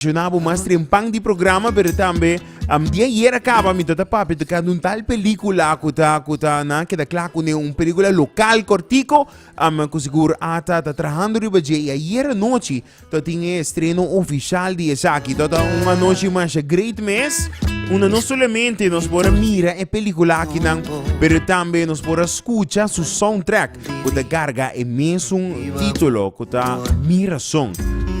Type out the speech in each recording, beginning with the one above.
Mencioná bo mas trempan di programa, pero tambe um, di ayer a caba mi tata papi tocando un tal película cu ta, cu ta na queda clar cu ne un película local cortico, um, cu seguro ata ta trabajando riba dje. Y ayer anoche ta tin e estreno oficial di esaki. Ta ta un anoche masha great mes, una no solamente nos por mira e película akinan, pero tambe nos por escucha su soundtrack. ku ta karga e mesun titulo ku ta Mi Rason.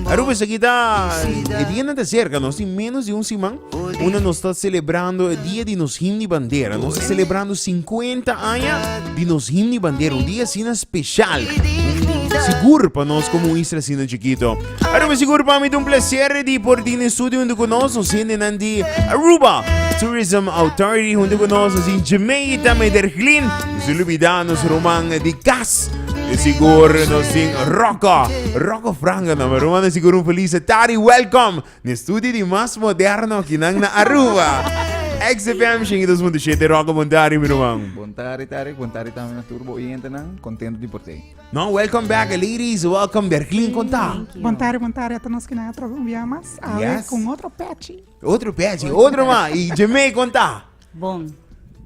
Aruba esaki ta e dianan ta serka nos tin menos di un siman unda nos ta selebrando e dia di nos him di bandera nos ta selebrando sinkuenta aña di nos him di bandera un dia asina speshal sigur pa nos komo un isla asina chikito. Pero mi sigur pa mi un placer di por tin estudio junto con nos, nos hendenan di Aruba Tourism Authority junto con nos, nos in Jemei también der Glin, sin olvidar nos roman di gas. Mi sigur nos tin Rocco, Rocco Franga no, pero man sigur un feliz tari welcome. Ni estudio di mas moderno ki nan na Aruba. XFM Shingi 2.7 Rocco Bontari mi roman. Bontari tari, bontari también na turbo oyente nan, contento di por te. No, welcome back ladies, welcome dergin kon ta. Bon tarde, bon tarde a todos nos kinan a trobe un bia mas. Awe Yes. con otro pechi. Otro pechi, otro ma, i Jemee kon ta. Bon.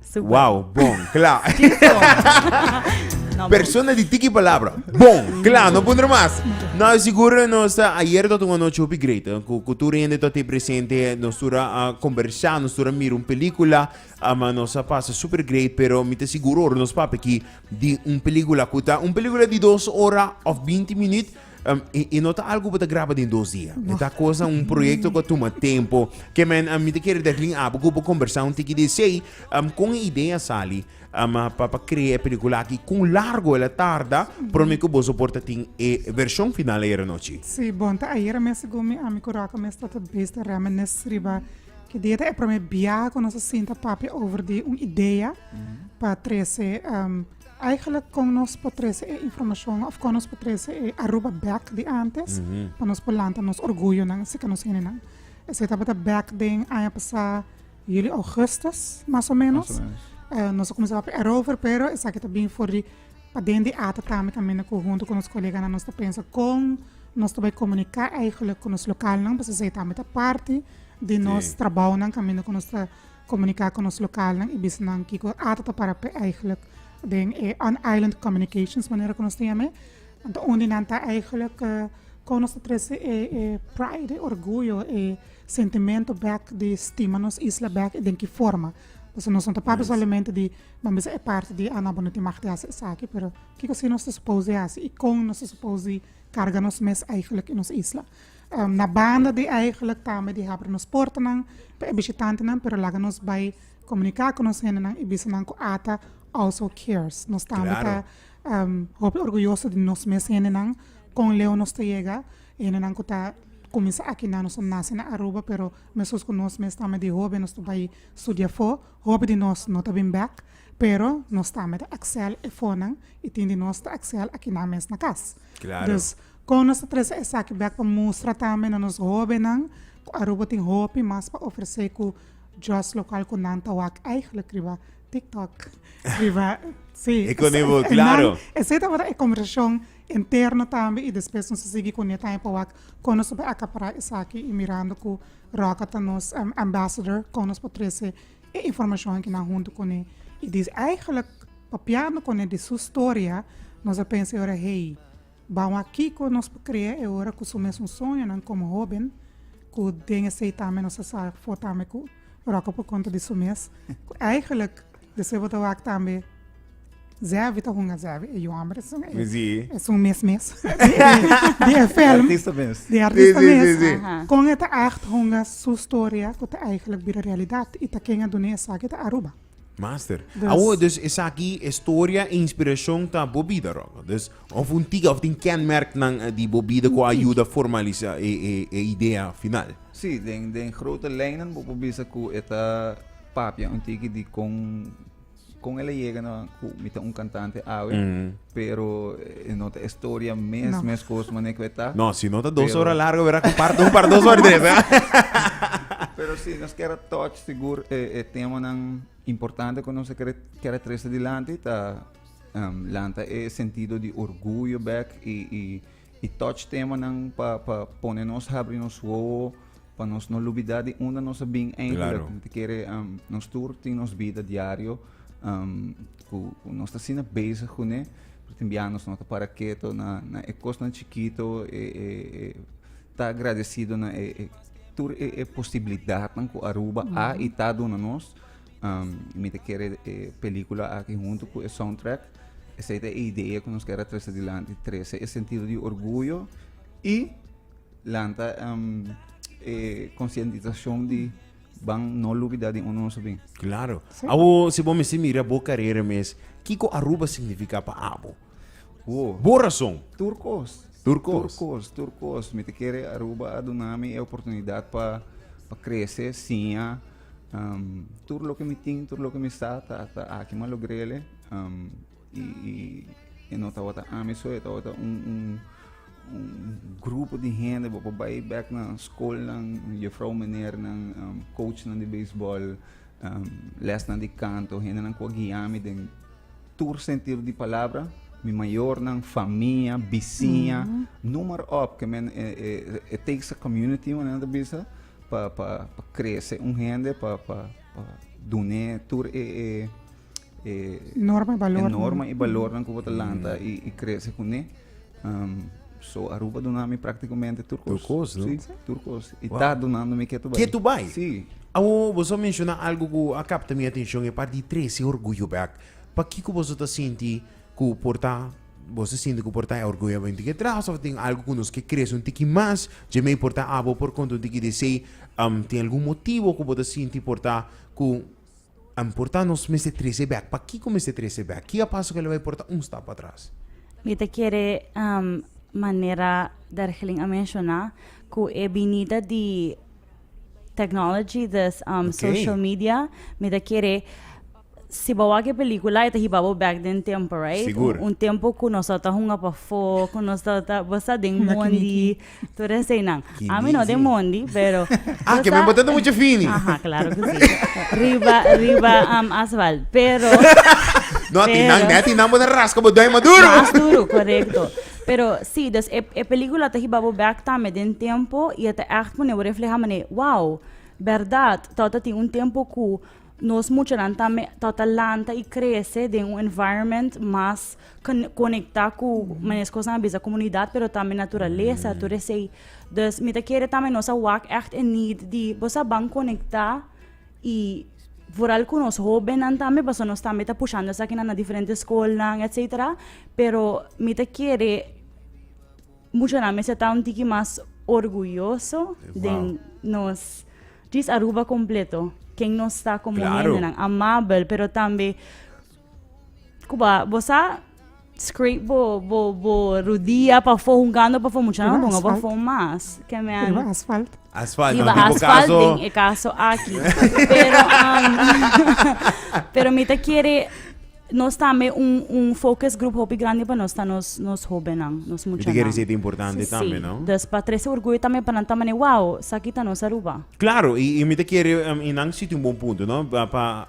Super. Wow, bon, kla. No, Persona di tiki palabra. Bon, kla, no pondre mas. No, seguro nos ta ayer tot un noche hopi great. eh, Ku ku tur hende tot te presente, nos tur a conversa, nos tur a mira un película, ah, ma nos a pasa super great, pero mi te seguro ora nos papi ki di un peligula ku ta un peligula di dos ora of binti minüt um, i, i no ta algo ku ta graba den dos dia. No. Ta kosa un proyekto ku tuma tempo. Ke men um, mi te kere dek lin abu ku bo konversá un tiki di sei um, kon e idea sali um, pa, pa krea e pelikula aki, kon largo el a tarda, prome ku boso por ta tin e vershon final ayera nochi. Si, bon, ta ayera mes segun mi, ami ku Rocco mes ta ta bista rèmènes riba Ki dia ta e prome bia ku nos a sinta papia over di un idea pa trese um, eigenlijk kon nos por trese e informashon of kon nos por trese e Aruba back di antes pa nos por lanta nos orguyonan si ka nos henenan. Ese tabata back den aña pasá juli augustus, mas o menos. Mas o menos. Uh, nos a kumsa papia erover, pero esaki ta bin for di Pa den di ata tambe ta mina cu hunto cu nos coleganan nos ta pensa con nos ta bay comunica eigenlijk cu nos localnan pasobra esey tambe ta parti di nos trabounan caminda cu nos ta comunica cu nos localnan y bisa nan kico ata ta para p'e eigenlijk den e on island communications manera cu nos ta yam'e. Ento un di nan ta eigenlijk con nos ta trece e pride, e orguyo, e sentimento bek di stima nos isla bek y den ki forma. Pasobra nos no ta papia solamente di. Nan bisa e parti di Ana bo no tin mag di hasi esaki, pero kiko si nos ta supos di hasi i kon nos ta supos di karga nos mes eigenlik i nos isla? Na banda di eigenlik tambe di habri nos portanan pa e bishitantenan, pero laga nos bai komuniká ku nos hendenan i bisa nan ku ata also cares. Nos tambe ta hopi orguyoso di nos mes hendenan, kon leu nos ta yega, e hendenan ku ta kuminsá aki nan, nos a nase na Aruba, pero meskus ku nos mes tambe di hoben nos ta bai studia afó, Hopi di nos no ta bin bek, pero nos ta mei ta axel e fonan i tin di nos ta axel akinan mes na kas. Dus, kon nos ta trese esaki bek pa mustra tambe na nos hóbennan ku Aruba tin hopi mas pa ofresé ku djòs lokal ku nan ta wak èigelik riba TikTok, riba, sí, nan, esei tabata e kombersashon interno tambe i despues nos a sigui kuné tambe pa wak kon nos ta bai akapará esaki i mirando ku. Roca ta nos um, ambassador con nos por trece e informacion aki nan hunto con e. Y di eigenlijk papiando con e di su storia nos a pensa e ora hey, bou a kico nos por crea e ora cu su mesun soñonan como hoben cu den esey tambe nos a sa for tambe cu Roca por conta di su mes cu eigenlijk Despues bo ta wak tambe Zevi ta hunga Zevi e yomber esun e Mi si. esun mes mes di e film Artista mes. di artista Sí, sí, mes sí, sí. Aha. kon e ta acht hunga su storia ku ta eigenlijk bira realidat i ta ken a dune esaki ta Aruba Master. Dus- Awo, dus esaki e storia e inspirashon ta bo bida, Rocco. Dus of un tika of tin kenmerknan eh, di bo bida ku a yuda formalisa e e e idea final. Sí, den den grote lijnen bo por bisa ku e ta papia un tiki di con con el llega no cu mi ta un cantante awe mm. pero eh, no ta historia mes no. mes cos mané que ta no si no ta dos pero... horas largo verá un par un par dos horas tres ¿eh? pero si sí, nos queda touch seguro eh, eh, tema nan importante que nos queda queda tres adelante ta um, lanta e sentido de orgullo back y, y E touch temanan pa pone nos habri nos wowo pa nos no lubidá di unda nos a bin eindelijk. Claro. Kere um, nos tur tin nos bida diario um, ku, ku nos ta sina bezig ku ne. Tin biaha nos no ta para keto na, na e kosnan chikito e, e, e ta agradecido na e, e tur e, e posibilidatnan ku Aruba a i ta duna nos. Um, mi te kere e película aki junto cu e soundtrack. Esa e idea que nos kere trece adelante. Trece e sentido di orgullo y lanta um, e conscientizacion di van no lubida di uno nos bien. Claro. Sí. Abo, si bo me si mira bo carrera mes, Kiko Aruba significa pa abo? Wow. Bo razón. Turcos. Turcos. Turcos, Turcos. Mi te kere Aruba a dunami e oportunidad pa, pa crece, siña, tur loke mi tin tur loke mi sa ta ta aki ma lo grele i i e no tabata ami so e tabata un un un grupo di hende bo por bai bek na skolnan juffrouw meneernan coachnan di beisbòl lèsnan di kanto hendenan ku a guia mi den tur sentido di palabra mi mayornan famia bisiña noem maar op ke men e e e takes a community ku nan ta bisa Pa pa pa krese un hende pa pa pa dun'é tur e e e norma i balornan e norma i balornan ku bo ta lanta i i krese kuné um, So Aruba duna mi práktikamente tur kos. Tur kos, no? Sí, tur kos. I wow. ta dunando mi ketu bai. Ketu bai? Sí. Awo, boso menciona algo ku a kapta mi atenshon, e parti trese orguyo bek. Pa kiko boso ta sinti ku por ta Bo ta sinti ku por ta e orguyonan tin ke tras òf tin algu ku nos ke krese un tiki mas? Dje mei por ta abo por konta un tiki di esei. Tin algun motibu ku bo ta sinti por ta ku por ta nos mester trese bèk? Pakiko mester trese bèk? Ki a pasa ku el bai por ta un stap atras? Mi ta kere manera Dergelin a menshoná ku e binida di tèknologi, di social media, mi ta kere Si bo wak e pelikula e ta hiba bo bek den tempo right Sigur. un tempo ku nos tabata hunga pafó ku nos tabata bo sa den Hunga mondi kiniki. tur eseinan Kiniki. ami no den mondi pero Ah, bo ke sa- men bo tabata mucha fini. Aha, claro que si. Riba, riba am asfalt. Pero, No, a tinan, Pero- ne a tinan bo ta raska bo dòi mas duro. mas duro, correcto. Pero si, dus e, e pelikula ta hiba bo bek tambe den tempo i e ta ègt pone bo reflehá mane, wow, bèrdat, tabata tin un tempo ku Nos muchanan tambe ta ta lanta y crece den un environment mas conecta cu manes cosnan a bisa comunidad pero tambe naturaleza tur esey. Dus mi ta kere tambe nos a wak echt e need di bo sa ban conecta y vooral cu nos hobennan tambe pasobra nos tambe ta pushando esakinan na diferente schoolnan etcetera pero mi ta kere Muchanan mester ta un tiki mas orguyoso den nos djis Aruba completo. Ken nos ta como claro. hendenan amabel, pero tambe Cuba, bo sa scrape bo, bo, bo rodia pafo, hungando pafo, muchanan bongo pafo mas. Ken me an... Riba asfalt. Asfalt, Riba asfalt caso... den e caso aki. pero, um, pero mi ta kere Nos ta me un un focus group hopi grandi pa nos ta nos nos hobennan, nos Mi muchanan. te kere si et importante Sí, tambe, no? dus pa trece orgullo tambe pa nan ta mane wow, saki ta nos Aruba. Claro, y, y mi te quiere, um, y nan sitio un buen punto, ¿no? Pa, pa,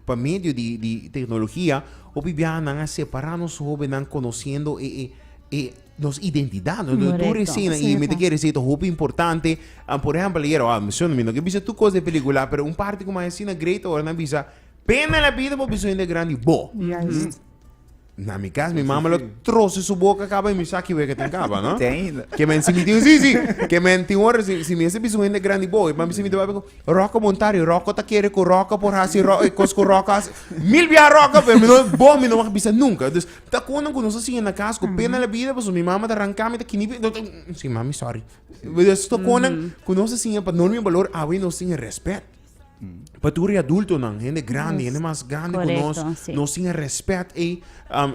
pa medio di, di tecnología, hopi biaha nan a separa nos hobennan conociendo e, e, e nos identidad, no? Correcto. Tur esena, y mi te quiere si ta hopi importante, um, por ejemplo, ayer, oh, mi son, mi no ke bisa tur cos den pelicula, pero un parti como asina great, ora nan bisa, Pena en la bida bo biso hende grandi bo. Juist. Na mi cas, mi mama lo troce su boca caba y mi sa kiweka tin caba, no? Tei. Ke men si mi tin, si, si, ke men tin ora si, si mi ese biso hende grandi bo, e mami si mi ta babe ku, Rocco Montari, Rocco ta kere ku Rocco por hasi ro, e kos ku Rocco hasi. Mil bia Rocco, pero mi no, bo mi no wak bisa nunka. Dus, ta konan ku nos a siña na cas ku pena en la bida paso mi mama ta ranka mi, ta kini mi, ta, ta, si mami sorry. Dus ta konan ku nos a siña pa no olbida un balor, awe nos tin e respet. Pa tur e adultonan, hende grandi, hende mas grandi ku nos, nos tin e rèspèt ei.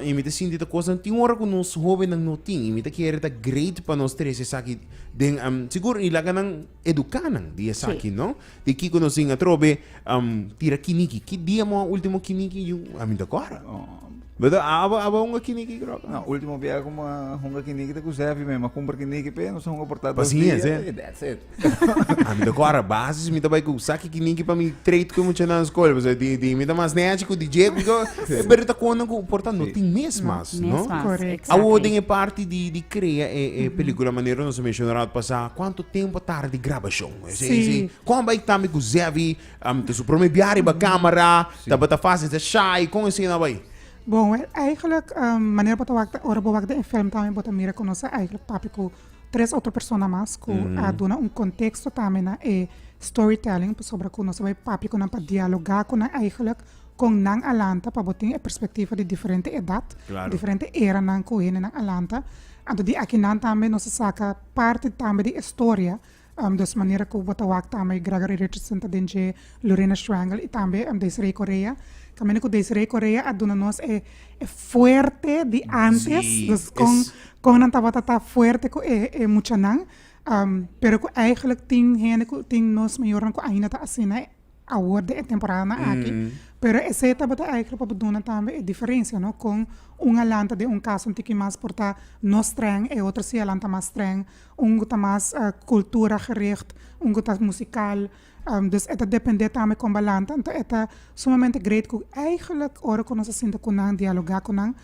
I mi ta sinti ta kosnan tin ora ku nos hóbennan no tin. I mi ta kere ta great pa nos trese esaki den. Sigur i laga nan eduká nan di esaki no, di kiko nos tin atrobe tira kiniki. Ki dia bo a último kiniki yu a mi ta kòrda? Beto, a aba aba hunga kiniki krok? No, ultimo biaha ku mi a hunga kiniki ta ku Sèfi me. Mi a kumpra kiniki p'e, nos a hunga por ta dos dia. Pasiensia, e. I dats it. A mi ta kòrda basis, mi ta bai ku saki kiniki pa mi treit ku e muchanan skol. Pasobra di di mi ta mas nèchi ku di dje ku dje. Pero e ta kontan ku por ta no tin mes mas, no? Mes mas, Correcto. exactly. Awor den e parti di di krea e e pelikula, manera nos a menshona ora pasá, kuantu tempu a tarda di grabashon? Si. Kon a bai tambe ku Sèfi Te su prome bia riba camera tabata fácil ta shy con esey na bay? Bon we eigenlijk manera bo ta wak ta ora bo wak den e film tambe bo ta mira ku nos a eigenlijk papia ku tres otro persona mas ku a duna un contexto tambe na e storytelling pasobra ku nos a bay papia ku nan pa dialoga ku nan eigenlijk kon nan a lanta pa bo tin e perspectiva di diferente edad diferente eranan ku hendenan a lanta anto di aki nan tambe nos a saka parti tambe di e storia. Um dos manera ku bo ta wak ta ama e Gregory Richardson ta den dje Lurena Schwengel i tambe um Desiree Correa. Kaminda ku Desiree Correa a duna nos e e fuerte di antes, dus kon kon nan tabata ta fuerte ku e e muchanan, um pero ku eigelijk tin hende ku tin nos mayornan ku ainda ta asina. awor den e temporadnan aki, pero esei tabata èiker pa bo duna tambe e diferensia, no? Kon un a lanta den un kas un tiki mas por ta no strèng, e otro si a lanta mas strèng. Un ta mas kultura gericht, un ku ta musikal. Dus e ta dependé tambe kon bo a lanta. Anto e ta sumamente greet ku èigelik ora ku nos a sinta ku nan, dialogá ku nan,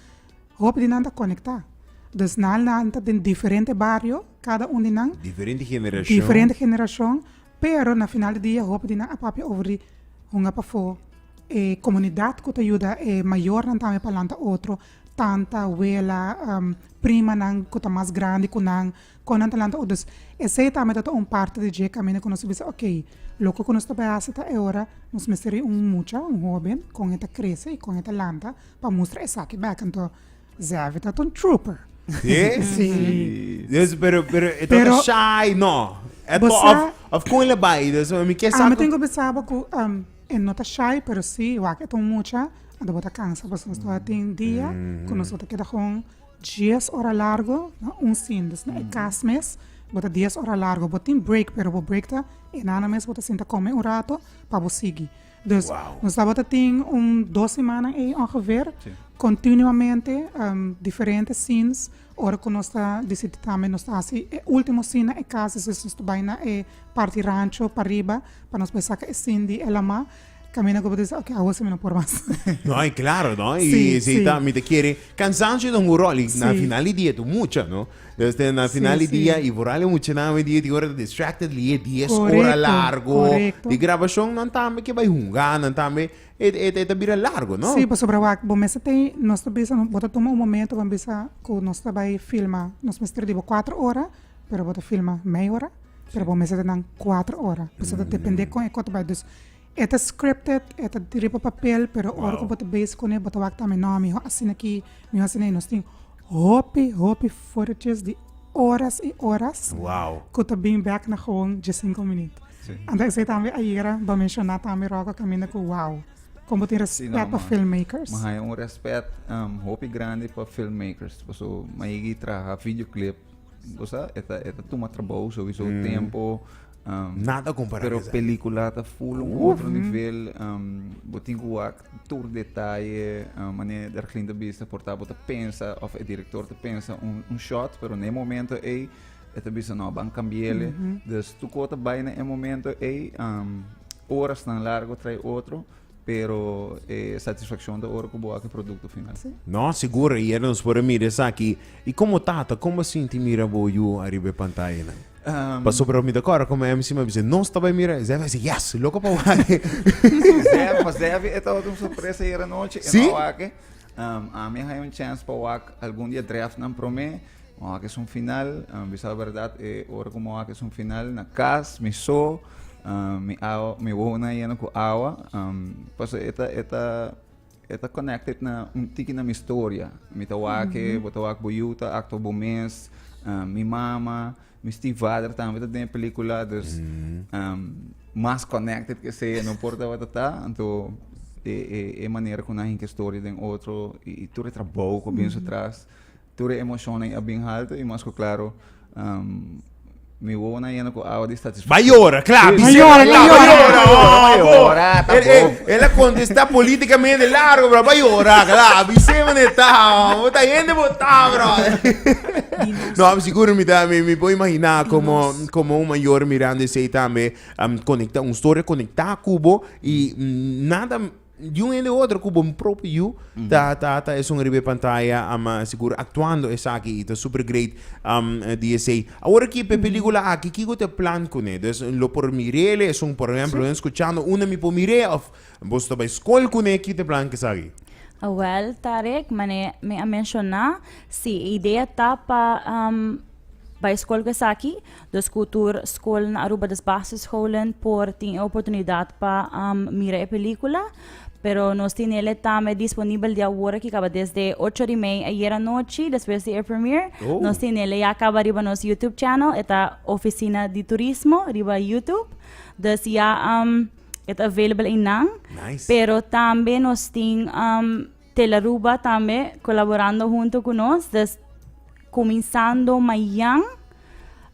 hopi di nan ta konektá. Dus nan a lanta den diferente bario, kada un di nan. Diferente generashon. Diferente generashon. Pero na final di dia hopi di nan a papia over di hunga pafó e komunidat ku ta yuda e mayornan tambe pa lanta otro, tanta, wela, primanan ku ta mas grandi ku nan, kon nan ta lanta otro. Dus esei tambe tabata un parti di dje kaminda ku nos ta bisa ok, loke ku nos ta bai hasi ta e ora nos mester bai un mucha, un hóben, kon e ta krese i kon e ta lanta pa mustra esaki bèk. Anto Zevi ta un trooper. Yeah? Sí. Dus, pero, pero, e Pero- toca shy, no. E to, Bosa- of, of con le bai, dus, mi kies Ah, me tengo pensaba que um, e no está shy, pero sí, igual que ton mucha, a debo ta cansa, pues nos está tin día, que nos está queda con 10 horas largo, no, un sin, dus, no, e cas mes, bota 10 horas largo, bota tin break, pero bo break ta, e nana mes bota sinta come un rato, pa bo sigui. Dus nos tabata tin un dos simannan ei ongeveer, continuamente diferente scenes, ora cu nos ta disiti tambe nos ta haci e ultimo scene na e cas, es es nos ta bay na e parti rancho pariba pa nos bay saca e scene di e lama, Camina cuba ta dici ok awo si mi no por mas. No, y claro no, y si ta mi ta kere, cansancio ta un rol y na final di dia ta un mucha no. Este na final di dia y vooral e muchanan hoy dia di ora ta distracted li e dies ora largo di grabacion nan tambe ke bay hunga nan tambe e ta bira largo no. Si pasobra wak bo mester tin nos ta bisa bo ta tuma un momento bo bisa ku nos ta bay filma nos mester di bo cuatro ora pero bo ta filma mei ora pero bo mester ta nan cuatro ora pasobra ta depende kon e ko ta bay. E ta scripted, e ta riba papel, pero ora ku bo ta bezi kuné bo ta wak tambe no mi ho asina aki, mi ho asina. Nos tin hopi, hopi footages di oras i oras ku ta bin bèk na gewoon dje sinku minüt. Anto esei tambe ayera bo a menshoná tambe Rocco kaminda ku wow, kon bo tin rèspèt pa filmmakers. Mi haña un rèspèt hopi grandi pa filmmakers pasobra mi a yega traha videoclip. bo sa e ta e ta tuma trabou sowieso mm. tempo um, nada comparado pero película ta full un outro nivel um, bo tin ku wak tur detalle um, mane der klin ta bisa por ta bo ta pensa of e director ta pensa un, un shot pero ne momento ei e ta bisa no ban cambiele mm -hmm. dus tu kota bai na e momento ei um, horas tan largo trae otro Pero e satisfaccion ta ora cu bo aki producto final. Sí. No, seguro, y nos por mira esaki. Y como tata, como sinti mira bo yu arriba e pantaya nan? Um, pa sobra mi da cora como MC me dice, no estaba mira, Zef dice, yes, loco pa wake. Zef, pa Zef, e tava un sorpresa hier anoche, sí? en wake. Um, a mi hay un chance pa wak algún dia draft nan prome. Mo hak es un final, um, bisa la berdad, e ora ku mo hak es un final na kas, mi so, um, mi awa, mi wona yena ku awa, um, paso eta, eta, eta connected na un tiki na mi storia. Mi ta wake, bo ta wak bo yu ta acto bo mes, um, mi mama, mi stiefvader tambe ta den e pelikula, dus, um, mas connected ke se, no por tabata ta, anto e, e, e manera ku nan hinka e storia den otro, i, i tur e trabou ku a binso tras, Tur e emocionnan a bin halto y mas cu claro mi wowonan a yena cu awa di satisfaccion. M'a yora, cla, M'a Vicente yora, m'a M'a yora, yora, m'a yora, m'a yora, m'a yora, ta El, el, bon. el a contesta politicamente largo, brother. M'a yora, cla, Vicente mane ta, man. Bo ta hende bo ta, brother. No, am sigur mi ta, mi, mi por imagina como, como un mayor mirando esey tambe, am conecta, un storia conecta cu bo y nada. di un hende otro ku bo propio yu ta ta ta esun riba e pantaya am sigur aktuando esaki i ta super great am di esei. Awor aki p'e pelikula aki kiko ta e plan kuné? Des lo por mir'ele esun por ehemplo nan skuchando unda mi por mir'e òf boso ta bai skol kuné ki ta e plan kesaki? Awèl ta rèk manera mi a menshoná si e idea ta pa am bai skol ku esaki Dos ku tur skol na Aruba des basischolen por tin e oportunidad pa mira e pelikula. Pero nos tin ele tambe disponibel di awor aki kaba desde ocho di mei ayer anochi despues di e premiere. Oh. Nos tin ele ya kaba riba nos YouTube channel, e ta Oficina di Turismo riba YouTube. Dus ya e ta available einan. Nice. Pero tambe nos tin Telearuba tambe colaborando hunto cu nos dus cuminsando mayan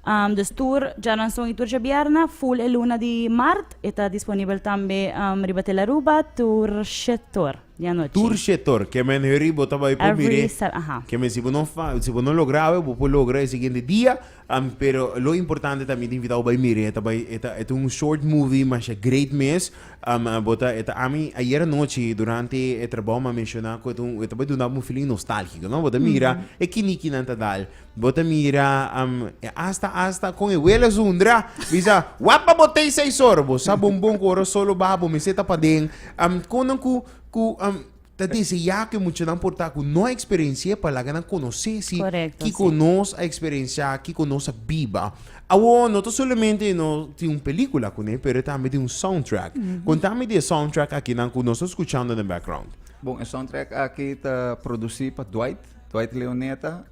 um, dus tur djaranson y tur djabierna full e luna di maart e ta disponibel tambe um, riba Telearuba tur shetor di anochi Tur shetor, ke men hurry bo ta bai por every miré. Sat- aha. Ke men si bo no fa, si bo no logra awe, bo por logra e siguiente dia. Am pero lo importante ta mi ta invitá bo bai mira e ta bai e ta e ta un short movie masha great mes am bo ta e ta ami ayer anochi durante e trabou m'a menshoná ku e ta un e ta bai duna bo un feeling nostálgiko no bo ta mira e kinikinan ta dal bo ta mira am e asta asta kon e wele Zundra bisa wap pa bo tei seis ora bo sa bombon ku ora solo ba bo mester ta paden am kon nan ku ku am Ta deseá ku e muchanan por ta ku no eksperensi'é pa laga nan konosé si kiko nos a eksperensiá, kiko nos a biba. Awor no ta solamente no tin un pelíkula kuné, pero tambe tin un soundtrack. Kontami di e soundtrack akinan ku nos ta skuchando den background. Bon, e soundtrack aki ta produsí pa Dwight, Dwight Leoneta,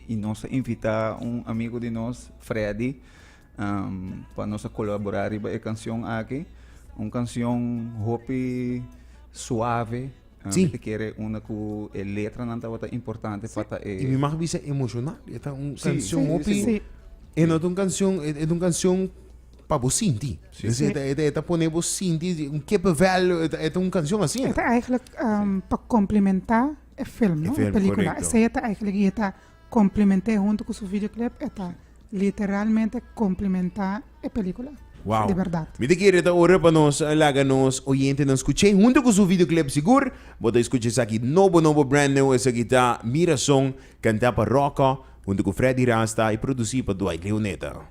i nos a invitá un amigu di nos, Freddy, pa nos a kolaborá riba e kanshon aki. Un kanshon hopi suave. Sí. Mi ta kere una ku e letranan tabata importante pa ta e. I mi mag bisa emoshonal. E ta un Sí, kanshon sí, hopi. sí. E no ta un kanshon, e e ta un kanshon pa bo sinti. Sí. Entonces, e ta- e ta- e ta pone bo sinti un kippenvel. E ta- e ta un kanshon así. Eta eigenlijk ehm pa complementa e film, no? E film, Película. correcto. Esei eta eigenlijk y eta Complimenté hunto cu su videoclip e ta literalmente complimentá e película. Wow. Di berdad. Mi ta kere ta ora pa nos laga nos oyentenan scuch'é hunto cu su videoclip. Sigur bo ta scucha esaki nobo nobo, brand new. Esaki ta Mi Razón, cantá pa Rocco hunto cu Freddy Rasta y producir pa Dwight Leoneta.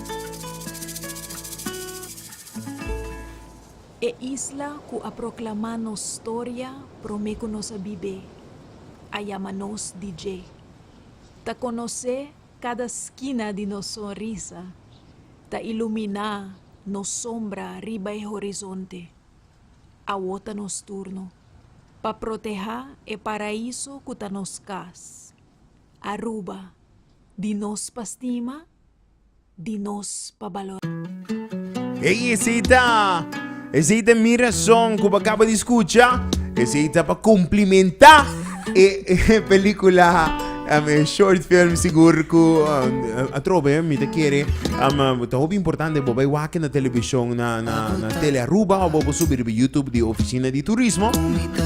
E isla ku a proklamá nos storia promé ku nos a bib'é, a yama nos di dje. Ta konosé kada skina di nos sonrisa, ta iluminá nos sombra riba e horizonte. Awó ta nos turno pa protehá e paraiso ku ta nos kas. Aruba, di nos pa stima? di nos pa balorá. Hey esey ta esey ta mi razon cu bo caba di scucha esey ta pa cumplimenta e pelicula e short film sigur cu atrobe mi ta kere ta hopi importante bo bay wak na television na na tele Aruba of bo subi riba YouTube di oficina di turismo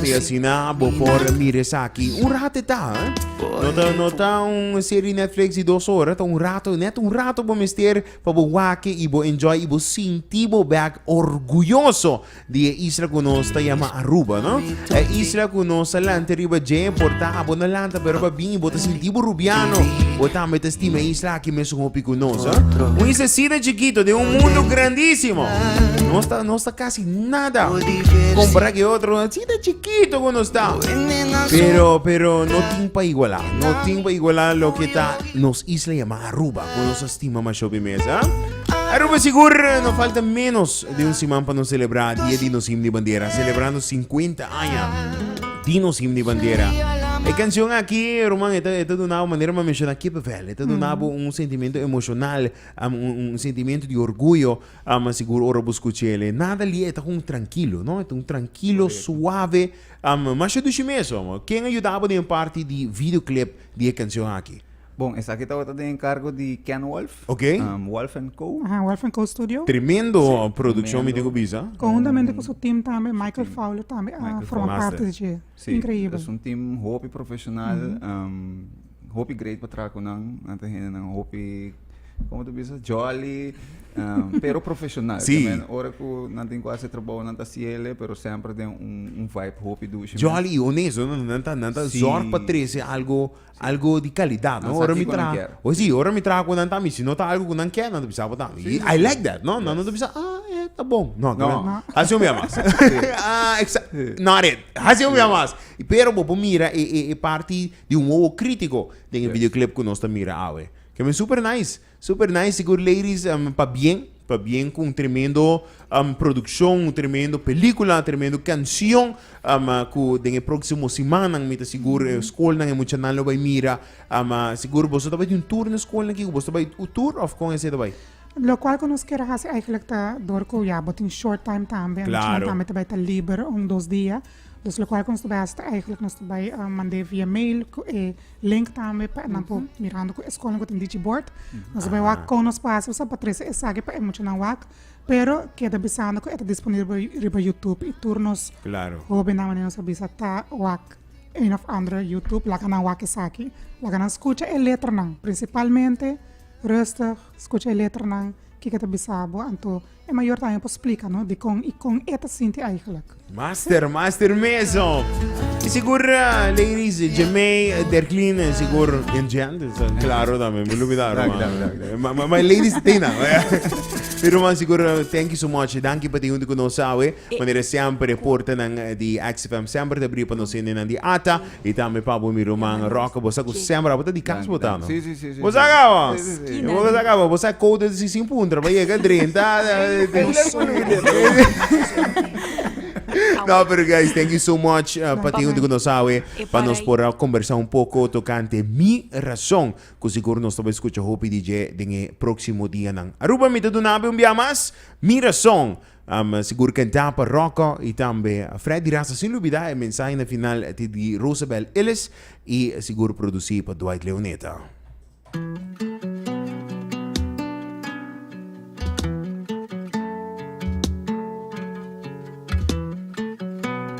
y asina bo por mira esaki un rato e ta. No ta, no ta un serie Netflix di dos ora, ta un rato, net un rato bo mester pa bo wake y bo enjoy y bo sinti bo bek orguyoso di e isla cu nos ta yama Aruba, no? E isla cu nos a lanta riba dje, por ta abo no lanta pero pa bin y bo ta sinti bo Rubiano, bo tambe ta stima e isla aki mesun hopi cu nos, eh? Un islacita chikito den un mundo grandisimo. Nos ta, nos ta casi nada compará cu e otro, cita chikito. Kito ku nos ta, pero pero no tin pa igualá, no tin pa igualá loke ta nos isla yamá Aruba ku nos a stima masho pi mes, a. Aruba sigur no falta ménos di un siman pa nos selebrá dia di nos himno di bandera, selebrá nos sinkuenta aña di nos himno di bandera. E kanshon aki, ruman, e ta e ta duna bo manera mi a menshoná kipepel, e ta duna bo un sentimentu emoshonal, un un sentimentu di orguyo Ama sigur ora bo skucha el e nada li e ta un trankilo, no? E ta un trankilo, suave, ama masha dushi mes ama. Ken a yuda bo den parti di video clip di e kanshon aki? Bon, esaki tabata den enkargo di Ken Wolf, Ok. Wolf and Co. Ahan, Wolf and Co. Studio. Tremendo produkshon mi tin ku bisa. Konhuntamente ku su team tambe, Michael Fowler tambe a forma parti di dje. Inkreyibel. Es un team hopi profeshonal. hopi great pa traha cu nan. Nan ta hendenan hopi, como ta bisa, jolly, um, pero profesional. Sí. Ta men, ora cu nan tin cu haci trabou, nan ta haci ele, pero semper den un, un vibe hopi dushi. men. Jolly y honesto, no? Nan ta, nan ta Sí. zorg pa trece algo, algo di calidad, Nan no? sa Ora mi kico nan traha, kier. oh sí, ora mi traha cu nan tami, si no ta algo cu nan kier, nan ta bisa pa tami. Sí, Y sí, I sí. like that, no? Nan no ta Yes. bisa, ah, eh, ta bon. No, ta No. men, No. haci un bia mas. Ah, exa- Sí. not it. Haci un bia mas. Pero bo por mira e, e, e parti di un oho critico den e videoclip cu nos ta mira awe. Ke men super nice, super nice sigur ladies pa bien, pa bien cu un tremendo produccion, un tremendo pelicula, tremendo cancion cu den e proximo simannan mi ta sigur e scolnan e muchanan lo bay mira sigur boso ta bay di un tour na scolnan Kiko? Boso ta bay un tour of con esey ta bay? Locual cu nos kier haci eigenlijk ta dor cu ya bo tin short time tambe e muchanan tambe ta bay ta liber un dos dia. Dus lokual ku nos ta bai hasta eigenlijk nos ta bai mand'é via mail ku e link tambe pa nan por mirando ku eskonan ku tin dichi bord. Nos ta bai wak kon nos pasa sa pa trese esaki pa e muchanan wak, pero keda bisando ku e ta disponibel riba youtube i tur nos hobennan wak nos a bisa ta wak ein òf andere youtube laga nan wak esaki, laga nan skucha e letranan, prinsipalmente, rustig, skucha e letranan, kiko ta bisa bo anto. E mayor tambe por splica no dicon y con e ta sinti eigenlijk. Master, master meso. Y sigur uh, ladies, Jemay, uh, Derklin, uh, sigur en gente, so, claro también, me olvidar, Dank, man. dank, dank, dank. Maar ma, ma ladies tena. Pero man, sigur, uh, thank you so much. Dank je pati junto con ons, sabe. Manera sempre, porta nan uh, di XFM sempre te abrir pa nos hende nan di ata. Y tambe pa bo mi ruman Roque bo sa cu sember abo ta di cas bo ta no bo sa caba bo sa caba bo sa codo si sin puntra bo yega drenta no pero guys thank you so much pa tin hunto cu nos awe pa nos por a combersa un poco tocante mi razon cu sigur nos ta por escucha hopi di dje den e proximo dianan Aruba mi ta dunabe un bia mas mi razon Am sigur kantá pa Rocco y tambe Freddy Rasta sin lubidá e mensahe na final ti di Rosabel Illes y sigur producí pa Dwight Leoneta.